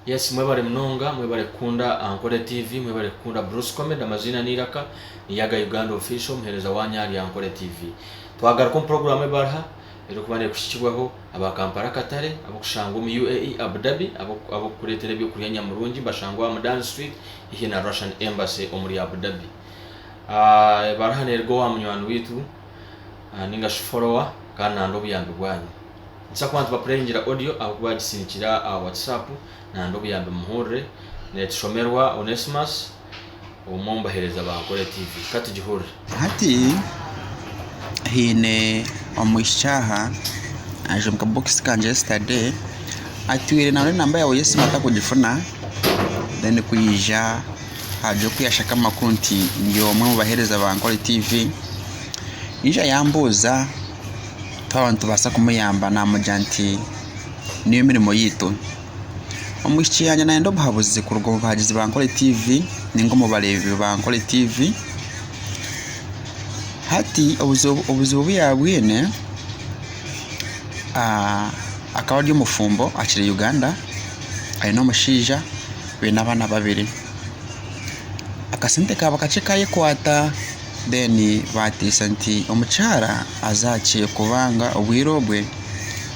Yes mwebare munonga mwebare kukunda Ankole TV mwebare kukunda Bruce comedy amaziina neiraka ni Yaga Uganda official omuhereza wanyu ahari Ankole TV twagaruka omu program ebarha erikuba nekuhikirwaho aba Kampala Katare abokushangwa omu UAE Abu Dhabi abokukuretera ebyokurya nyamurungi bashangwe aha Mudan street hihi na Russian embassy omuri Abu Dhabi ebarha neruga owa munywani waitu ningashi follower kandi nande obuyambi bwanyu. Nikibaasa kuba nitubapureyingira audio ahabw'okuba yaagisindikira aha WhatsApp naandi obuyambi muhurire. Neetushomerwa Onesmus, omwe omu baheereza ba Ankole TV. Ka tugihurire. Hati haine omwishiki aha aija omu kabokisi kangye yesterday atwire nabure enamba yaawe y'esimu atarikugifuna then kwija hagira oku yashaka amakuru nti ndi omwe omu baheereza ba Ankole TV yaija yambuuza twaba nitubaasa kumuyamba naamugira nti niyo mirimo yaitu. Omwishiki yangye naayenda obuhabuzi kuruga omu bahagizi ba Nkore TV ninga omu bareebi ba Nkore TV. Hati obuzibu obuzibu obu yaabwine ah, akaba ari omufumbo akiri Uganda, aine omushaija, baine abaana babiri. Akasente kaaba kakye kaayekwata Then bateesa nti omukyara aze akye kubanga obwire obwe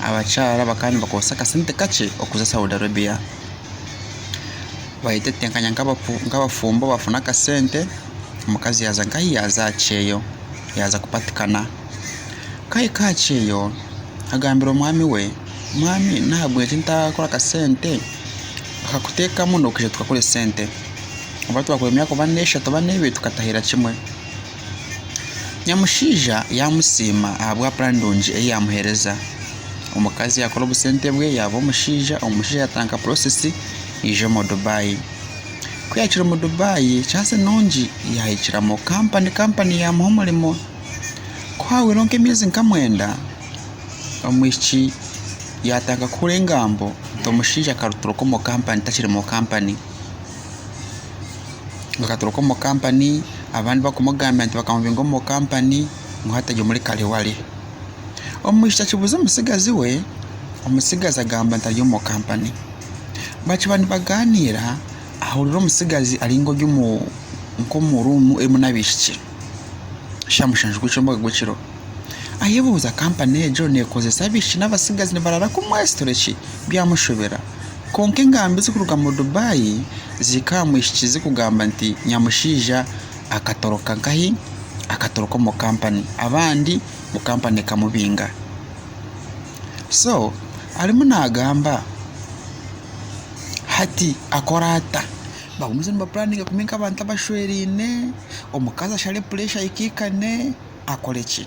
abakyara bakaba nibakozesa akasente kakye okuza Saudi Arabia. Bayetetenkanya nk'abafumbo bafuna akasente omukazi yaaza nka ahi yaaza aha kyeyo yaaza kupatikana. Ku ahika aha kyeyo agambira omwami we, Mwami nahabweki ntakora akasente akakuteekamu nokuhika otukakora esente. oba twakora emyaka oba n'eshatu oba n'ebiri tukatahira kimwe. Nyamushaija yaamusiima ahabwa puraani nungi ei yaamuheereza. Omukazi yaakora obusente bwe yaaba omushaija, omushaija yaatandika puroosesi yaija omu Dubai. Ku yaahikire omu Dubai, kyansi nungi yaahikira omu kampani, kampani yaamuha omurimo. Ku haahwaireho nk'emyezi nka mwenda, omwishiki yaatandika kuhura engambo nti omushaija akaruturwa omu kampani takiri omu kampani. bakaturuka omu company abandi bakumugambira nti bakamubinga omu company ngu hati ari omuri kare ware. Omwishiki akibuuza omutsigazi we, omutsigazi agamba nti ari omu company. Bakiba nibagaaniira ahurira omutsigazi ari nk'ori omu ruumu erimu n'abaishiki. Shusha mushanju gw'ekyombeko gw'ekiro. Ayebuuza kampani egyo neekozesa abaishiki n'abatsigazi nibaraara kumwesitore ki? Byamushobera. Kwonka engambi zikuruga mu Dubai zihika aha mwishiki zikugamba nti nyamushaija akatoroka nkahi? Akatoroka omu kampani abandi ngu kampani ekamubinga. So arimu naagamba hati akore ata? bagumize nibapuraninga kubi nk'abantu abashweraine, omukazi ashare pureesha aikaikane, akore ki?